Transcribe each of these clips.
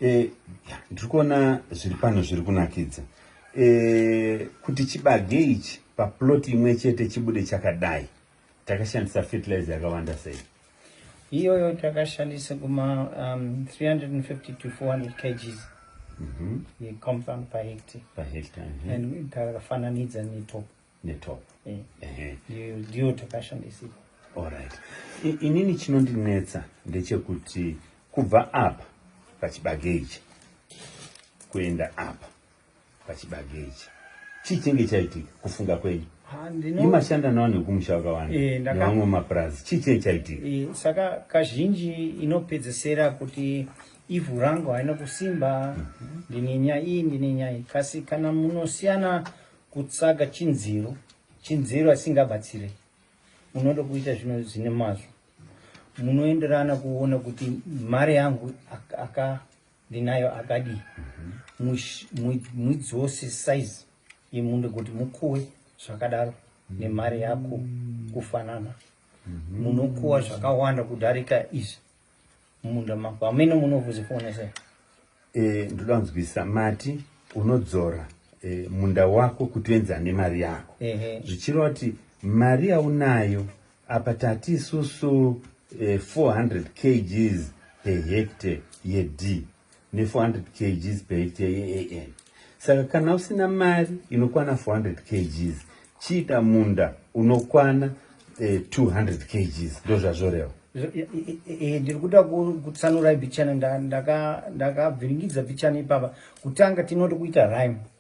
e, ndiri kuona zviri pano zviri kunakidza e, kuti chibage ichi paploti imwe chete chibude chakadai takashandisa fertilizer yakawanda sei iyoyo takashandisa kuma um, 350 to 400 kgs mm -hmm. yecompound pahecta pahecta mm -hmm. and takafananidza netop netop eh. eh. ndiyo takashandisika allright inini chinondinetsa ndechekuti kubva apa pachibage ichi kuenda apa pachibage ichi chii chinge chaitika kufunga kwenyu imashanda nawo nekumusha wakawanda eh, nevamwe mapurazi chii chinge chaitika eh, saka kazhinji inopedzesera kuti ivhu rangu haina kusimba mhm. ndine nyaya iyi ndine nyaya iyi kasi kana munosiyana Kutsvaga chinziro chinziro asingabatsire unoda kuita zvino zvine mazvo munoenderana kuona kuti mari yangu aka ndinayo akadii mudzose size yemunde kuti mukuwe zvakadaro nemari yako kufanana munokuwa zvakawanda kudarika izvi mumunda mako ameno munovuzi fone se eh ndoda kunzwisisa mati unodzora eh, munda wako kuti uenzana nemari yako zvichireva kuti mari yaunayo apa tati isusu eh, 400 kgs per hectare yedii ne 400 kgs per hectare yeAN. Saka kana usina mari inokwana 400 kgs, chiita munda unokwana eh, 200 kgs ndozvazvoreva. Eh, ndiri kuda kutsanura bichana ndakavhiringidza bichana ipapa kutanga tinoti kuita rime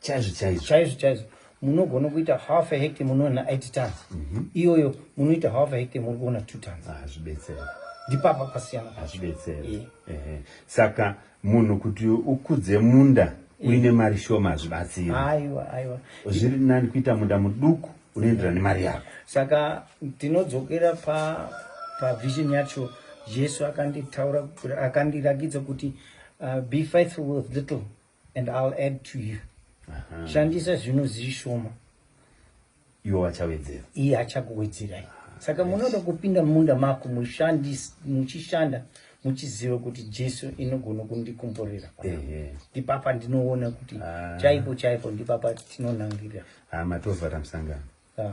chaizvo chaizvo chaizvo chaizvo munogona kuita half a hectare munoona 8 tons mm -hmm. iyoyo munoita half a hectare muri kuona 2 tons hazvibetsera ah, ndipapa pasiyana hazvibetsera yeah. yeah. saka munhu kuti ukudze munda yeah. uine mari shoma hazvibatsiri aiwa aiwa zviri nani kuita munda muduku unoenderana nemari yako saka tinodzokera pa pavision yacho jesu akanditaura akandirakidza kuti uh, be faithful with little and ill add to you shandisa zvinhu zvishoma iwo vachawedzera iye achakuwedzerai saka munoda kupinda mumunda mako muchishanda muchiziva kuti jesu inogona kundikomborera ndipapa ndinoona kuti ah. chaipo chaipo ndipapa tinonangirira ah, matovhara musangano ah,